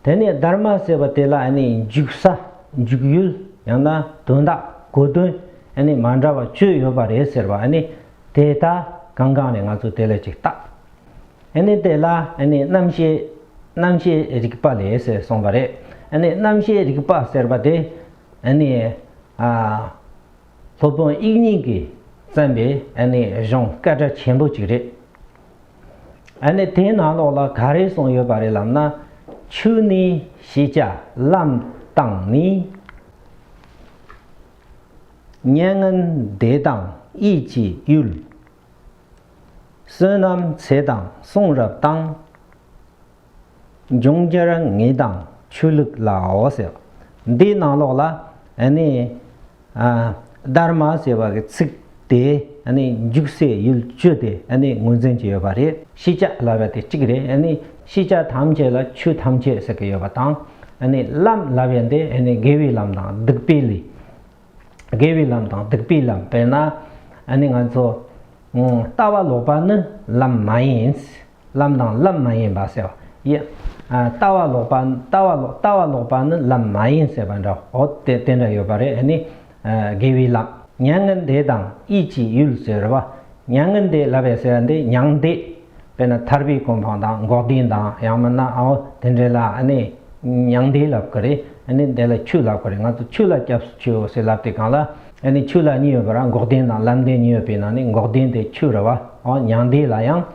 དེ་ནས་སྡར་མ་ཟེར་བ་དེ་ལ་འཇུག་ས་འཇུག་ཡུལ་ཡང་ན་དོན་དག་གོ་དོན་མ་འདྲ་བ་བཅུ་ཡོད་པ་རེད་ཟེར་བ་དེ་ད་གང་གང་ནས་ང་ཚོ་དེ་ལ་ཅིག་བལྟ། དེ་ལ་རྣམ་ཤེས་རྣམ་ཤེས་རིག་པ་ལས་ཟེར་གསུངས་པ་རེད། རྣམ་ཤེས་རིག་པ་ཟེར་བ་དེ་སློབ་དཔོན་དབྱིག་གཉེན་གྱིས་བརྩམས་པའི་གཞུང་སྐད་སྒྲ་ཆེན་པོ་ཅིག་རེད། ཨ་ནི་དེའི་ནང་ལོགས་ལ་ག་རེ་གསུངས་ཡོད་པ་རེད་ལབ་ན། ཆུ་ནི་ཤེས་བྱ་ལམ་དང་ནི། མྱ་ངན་འདས་དང་དབྱིས་ཀྱི་གཡུལ། བསོད་ནམས་ཚེ་དང་གསུང་རབ་དང། འབྱུང་འགྱུར་ངེས་དང་ཆོས་ལུགས་ལའོ་ཟེར་བ། འདིའི་ནང་ལོགས་ལ་ནི། དར་མ་ཟེར་བ་གི་ཚིག་དེས་འཇུག་སའི་ཡུལ་བཅུ་དེ་ངོས་འཛིན་གྱི་ཡོད་པ་རེད། ཤེས་བྱ་ལབ་པ་དེ་གཅིག་རེད། ཤེས་བྱ་ཐམས་ཅད་ལ་ཆོས་ཐམས་ཅད་ཟེར་གྱི་ཡོད་པ་དང། ལམ་ལབ་པའི་འདི་དགེ་བའི་ལམ་དང་སྡིག་པའི་ལས། དགེ་བའི་ལམ་དང་སྡིག་པའི་ལམ་དཔེར་ན། ང་ཚོ་ལྟ་བ་ལོག་པ་ནི་ལམ་མ་ཡིན། ལམ་དང་ལམ་མ་ཡིན་པ་ཟེར་བ་ཡིན། ལྟ་བ་ལོག་པ་ལྟ་བ་ལོག་ལྟ་བ་ལོག་པ་ནི་ལམ་མ་ཡིན་ཟེར་བ་འདྲ་འོ་དེ་དེ་འདྲ་ཡོད་པ་རེད་ཨ་ནི། དགེ་བའི་ལམ། མྱ་ངན་འདས་དང་དབྱིས་ཀྱི་ཡུལ་ཟེར་བ། མྱ་ངན་འདས་ལབ་པའི་ཟེར་བ་འདི་མྱང་འདས། དཔེར་ན་ཐར་པའི་གོ་འཕང་དང་འགོག་བདེན་དང་ཡང་མིན་ན་ཨོ་དེ་འདྲས་ལ་ཨ་ནི། མྱང་འདས་ལབ་གི་རེད་ཨ་ནི་འདས་ལ་ཆུ་ལབ་གི་རེད་ང་ཚོ་ཆུ་ལ་སྐྱབས་སུ་མཆིའོ་ཟེར་ལབ་དེ་གང་ལ་ཨ་ནི་ཆུ་ལ་གཉིས་ཡོད་པ་ར་འགོག་བདེན་དང་ལམ་བདེན་གཉིས་ཡོད་པའི་ནང་ནས་འགོག་བདེན་དེ་ཆུ་ར་བ་ཨོ་མྱང་འདས་ལ་ཡང།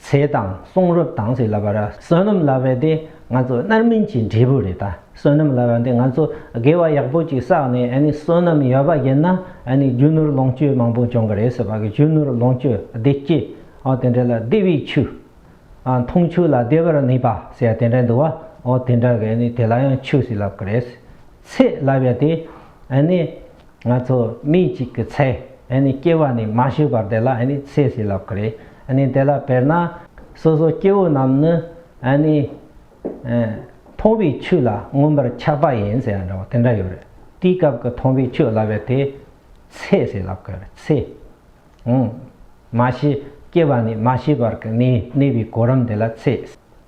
ཚེ་དང་གསུང་རབ་དང་ཞེས་ལབ་པ་ར་བསོད་ནམས་ལབ་པ་འདི་ང་ཚོ་རྣར་མིན་གྱི་འབྲས་བུ་རེད་ད་བསོད་ནམས་ལབ་པ་འདི་ང་ཚོ་དགེ་བ་ཡག་པོ་ཅིག་བསགས་ནས་ཨ་ནི་བསོད་ནམས་ཡོད་པ་བརྒྱུད་ན་ཨ་ནི་རྒྱུ་ནོར་ལོངས་སྤྱོད་མང་པོ་འབྱུང་གི་རེད་ཟེར་བ་གི་རྒྱུ་ནོར་ལོངས་སྤྱོད་བདེ་སྐྱིད་ཨོ་དེ་འདྲ་ལ་བདེ་བའི་ཆུ་ཨ་འཐུང་ཆུ་ལ་བདེ་བར་གནས་པ་ཟེར་བ་དེ་འདྲ་འདུག་བ་ཨོ་དེ་འདྲ་གི་ཨ་ནི་དེ་ལ་ཡང་ཆུ་ཞིག་ལབ་གི་རེད་ཚེ་ལབ་པ་དེ་ཨ་ནི། ང་ཚོ་མི་གཅིག་གི་ཚེ་སྐྱེ་བ་ནི་མ་ཤི་བར་དེ་ལ་ཚེ་ཟིན་ལབ་ཀི་རེད་དེ་ལ་དཔེར་ན། སོ་སོ་སྐྱེ་བོ་རྣམས་ནི། མཐོང་བའི་ཆོས་ལ་མངོན་པར་ཆགས་པ་ཡིན་ཟེར་བ་འདྲ་བོ་དེ་འདྲ་ཡོད་རེད་དེའི་སྐབས་ཀྱི་མཐོང་བའི་ཆོས་ལབ་པའི་དེ་ཚེ་ཟིན་ལབ་ཀི་རེད་ཚེ། མ་ཤི་སྐྱེ་བ་ནི་མ་ཤི་བར་གྱི་གནས་པའི་གོ་རིམ་དེ་ལ་ཚེ།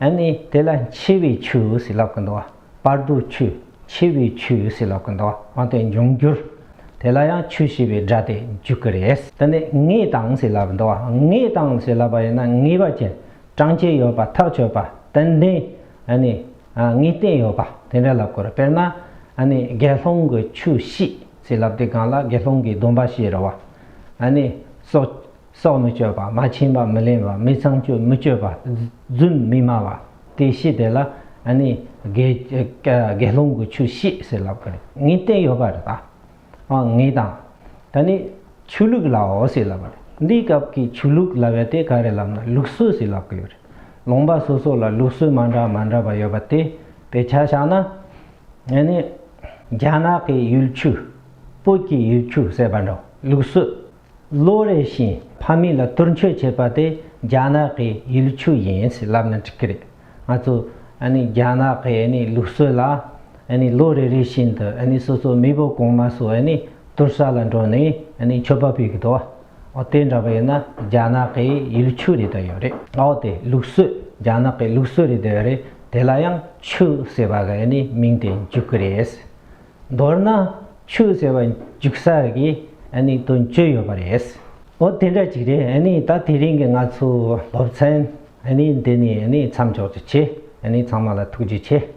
ཨེ་ནི་དེ་ལ་འཆི་བའི་ཆུ་ཟིལ་ལོག་གིན་འདུག་བར་དུ་ཆུ་འཆི་བའི་ཆུ་ཟིལ་ལོག་གིན་འདུག་འོན་ཏེ་འབྱུང་འགྱུར་དེ་ལ་ཡང་ཆུ་ཞེས་པའི་སྒྲ་དེ་འཇུག་གི་རེད། དེ་ནི་ངའི་དང་ཟིལ་ལབ་འདུག་ངའི་དང་ཟིལ་ལབ་པ་ཡིན་ན་ངེས་པ་ཅན་བགྲང་བྱའི་ཡོད་པ་ཐག་ཆོད་པ་ཏན་ཏན་ཨེ་ནི་ངས་བསྟན་ཡོད་པ་དེ་འདྲ་ལབ་དགོས་རེད་དཔེར་ན་ཨེ་ནི་དགེ་སློང་གི་ཆུ་ཤེས་ཟིལ་ལབ་དེ་གང་ལ་དགེ་སློང་གི་སྡོམ་པ་ཤེས་རེད་བ་ཨེ་ནི་སོགས། སྲོག་མི་གཅོད་པ་མ་བྱིན་པ་མི་ལེན་པ་མི་ཚངས་སྤྱོད་མི་སྤྱོད་པ། རྫུན་མི་སྨྲ་བ། དེ་བཤད་དེ་ལ་ནི། དགེ་སློང་གི་ཆོས་བཤད་ཟེར་ལབ་པར་ངས་བསྟན་ཡོད་པར་གདའ། ངས་དང། ད་ནི། ཆོས་ལུགས་ལའོ་ཟེར་ལབ་པར་འདིའི་སྐབས་ཀྱི་ཆོས་ལུགས་ལ་བས་དེ་ག་རེ་ལབ་ན་ལུགས་སྲོལ་ཟེར་ལབ་ཀྱི་ཡོད་རེད། ལུང་པ་སོ་སོ་ལ་ལུགས་སྲོལ་མ་འདྲ་མ་འདྲ་བ་ཡོད་པ་དེ་བས་ཆ་བཞག་ན། ནི། རྒྱ་ནག་གི་ཡུལ་ཆོས། བོད་ཀྱི་ཡུལ་ཆོས་ཟེར་བ་འདྲ་ལུགས་སྲོལ་ལོ་རེ་བཞིན་ཕ་མེས་ལ་དུར་མཆོད་བྱེད་པ་དེ་རྒྱ་ནག་གི་ཡུལ་ཆུ་ཡིན་ཞེས་ལབ་ན་འགྲིག་གི་རེད། ང་ཚོ་རྒྱ་ནག་གི་ལུགས་སྲོལ་ལ་ལོ་རེ་རེ་བཞིན་དུ་སོ་སོའི་མེས་པོ་གོང་མ་ཚོས་དུར་ས་ལ་འགྲོ་ནས་མཆོད་པ་ཕུལ་གི་འདུག་འོ་དེ་འདྲ་བས་ན་རྒྱ་ནག་གི་ཡུལ་ཆུ་རེད་དོ་ཡོད་རེད་འོ་དེ་ལུགས་སྲོལ་རྒྱ་ནག་གི་ལུགས་སྲོལ་རེད་དོ་ཡོད་རེད་དེ་ལ་ཡང་ཆུ་ཟེར་བ་གི་མིང་དེ་འཇུག་གི་རེད། མདོར་ན་ཆུ་ཟེར་བ་འཇུག་ས་གི་དོན་བརྗོད་ཡོད་པ་རེད། འོ་དེ་འདྲ་ཅིག་རེད་ད་དེ་རིང་གི་ང་ཚོའི་སློབ་ཚན་འདི་ནས་མཚམས་འཇོག་ཅིག་བྱེད་ཚང་མ་ལ་ཐུགས་རྗེ་ཆེ།